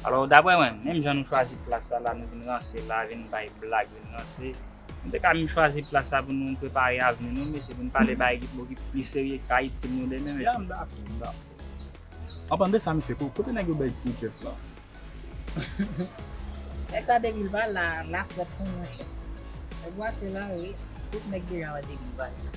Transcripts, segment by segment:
Alò, daprè mwen, menm jan nou chwazi plas sa la, nou vin ranse la, vin bay blag, vin ranse, nou te ka vin chwazi plas sa pou nou prepare avni nou, mesye, pou nou pale bagay ki bò, ki plis serye, ki ka itil nou demen, mesye. Ya, m dakò, m dakò. Anpan de sa, mesye, ko, kote nèg yo bay pou Jeff la? Nèg sa depi l pa la, lafrèt konn manchèt. Nèg yo ase lare, tout nèg deja wè depi l pa la.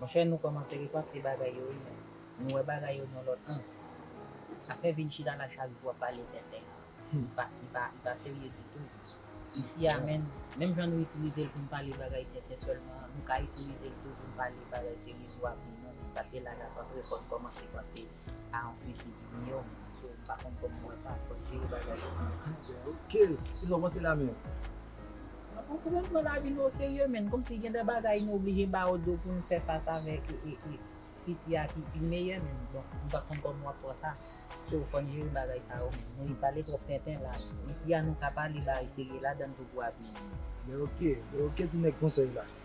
Monchè nou kòmanse repanse bagay yo wi menn, nou wè bagay yo nan lòt ang. Afè vin chita la chak jou ap pale tenten an, li pa serye ditou. Ifi a menn, menm jan nou itilize l pou n pale bagay tenten sèlman an, nou ka itilize l tou pou n pale bagay serye sou avni nou, sa te la l ap antre fò n kòmanse panse. Sa anpeche vini yo menm so m pa konn kòman wè sa fòk jere bagay yo an anglè ok kisa w panse la menm. Mwen konprann pran lavi nou oserye menn kòmsi gen de bagay nou oblije ba yo do pou nou fè fas avèk fiti a ki pi meyè menn bon m pa konn kòman wap wè sa so fòn jere bagay sa yo menm nou pale twòp tenten la isi a nou ka pale bagay serye ladann tou pou avni nou. Lè ok lè ok ti nèg konsèy la.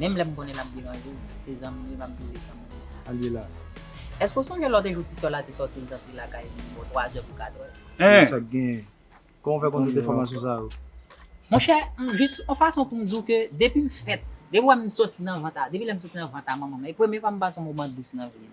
Menm lè m konnen l ap deranje w, se zanmi m e m ap jere zanmi m sa. Alila. Èske w sonje lòt e jou ti sè w la te sòti l t antre lakay li bò twazè pou katrè? Eeh! Sa k genyen? Kòman w fè konn tout enfòmasyon sa yo? Monchè, m jis yon fason pou m di w ke depi m fèt, depi w wè m sòti nan vant a, depi lè m sòti nan vant a manman m, e premye fwa m pase yon moman dous nan vi m.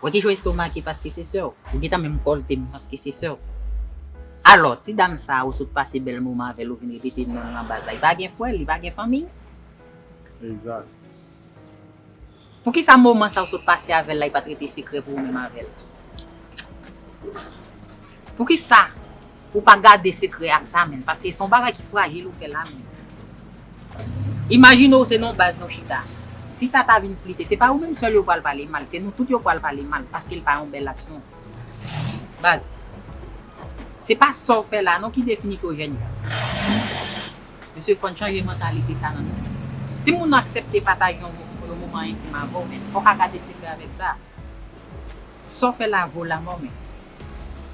Wè ki jan w estomake paske se sè w. Ou gentan menm kòlte m paske se sè w. Alò, ti dam sa a ou sot pase bèl moman avè l ou vin repete non l nan baz la. Li pa gen frè, li pa gen fanmiy? Egzat. Poukisa moman sa a ou sot pase avè l la li pa t rete sekrè pou ou menm avè l? Poukisa ou pa gade sekrè ak sa menm paske se yon bagay ki frajil ou fè la menm imajine ou se nan yon baz nou chita si sa ta vin flite se pa ou menm sèl yo pral pale mal se nou tout yo pral pale mal paske l pa yon bèl aksyon baz se pa sa w fè la non ki definite w jèn jan mesye fòn chanje mantalite sa nan nou si moun nan aksepte pataje yon moman entim avè w men fò ka gade sekrè avèk sa sa w fè la vo lamò men.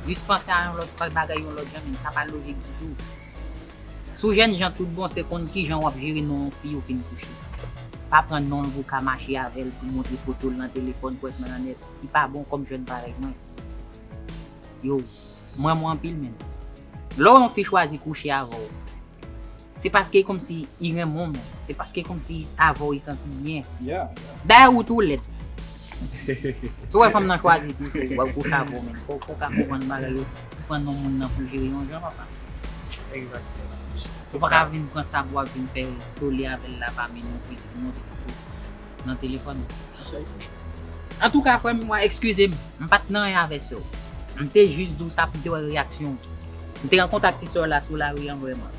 Jis panse a yon lòt faz bagay yon lòt jan men sa pa lojik ditou. Si w jènjan tout bon se konn kijan w ap jere non yon fi ou fin kouche. Pa pran non l pou w ka mache avè l pou montre foto l nan telefòn pou ètman nan nèt. Li pa bon kòm jèn parèy mwen. Yo, m renmen w anpil men. Lè w wè yon fi chwazi kouche avè w. Se paske komsi i renmen w. Se paske komsi avè w i santi byen. Dayè ou tou lèd. Si w wè fanm nan chwazi pou tou wap gwo savo menn. Fò w ka konprann bagay yo pou pran non moun nan pou jere yon jan pa fasil. Ou paka vin pran sa pou wap vin fè tole avè l la pa menm non plis pou monte tout kote. nan telefòn ou. Antouka frè m mwen ekskize m, m pa t nan anyen avè sè w. M te jis di w sa pou m te wè reyaksyon w. M te rankontre ak ti sè w la sou lari an vrèman.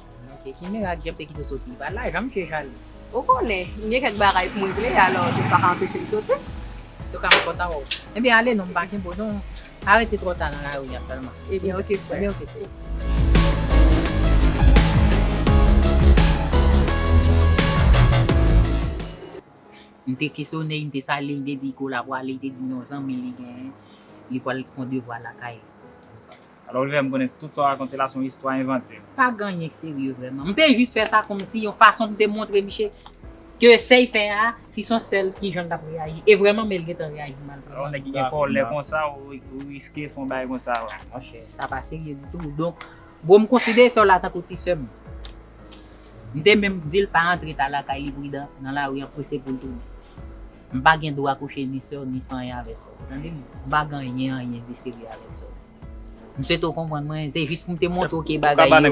Ok, ki mirak Jeff te kite w soti? Pa lajan misye jalou. Ou konnen, m gen kèk bagay pou m regle, alò Jeff pa ka anpeche m soti. Yo ka anko ta wè w. Ebyen ale non, m pa gen bo non. Pa rete twò ta nan lari a sèlman. Ebyen ok frè. Ebyen ok frè. M te kesyone li, m te salye l, m te di kola pwale, li te di non zanmi li genyen, li pwal fon devwa lakay li. Alò li fè m konnen tout sa w rakonte la se yon istwa envante. Pa gen anyen ki serye vrèman. M te jis fè sa kòmsi yon fason pou m te montre Miche ke sa y fè a, si s on sèl ki jan l t ap reyaji. E vrèman men li gen tan reyaji mal pou mwen. Yon nèg ki gen kòlè konsa ou riske fè yon bagay konsa. Monchè, sa pa serye ditou. Donk, bro m konsidere sè w la tankou ti sè m. M te menm di l pa antre ta lakay li pridan nan lari an prese pou l tounen. M pa gen dwa kouche ni sè w ni fè anyen avèk sè w. Ou tande m? M pa gen anyen anyen de serye avèk sè w. M swete w konprann mwen. Se jis pou m te montre w ke bagay yo,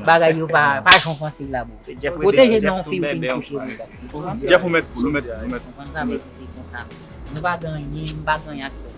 bagay yo pa jan w panse l la bro. Pwoteje non fi w fin kouche li la. Ou konprann sa? M konprann sa men se konsa. Nou pa gen anyen, m pa gen anyen ak sè w.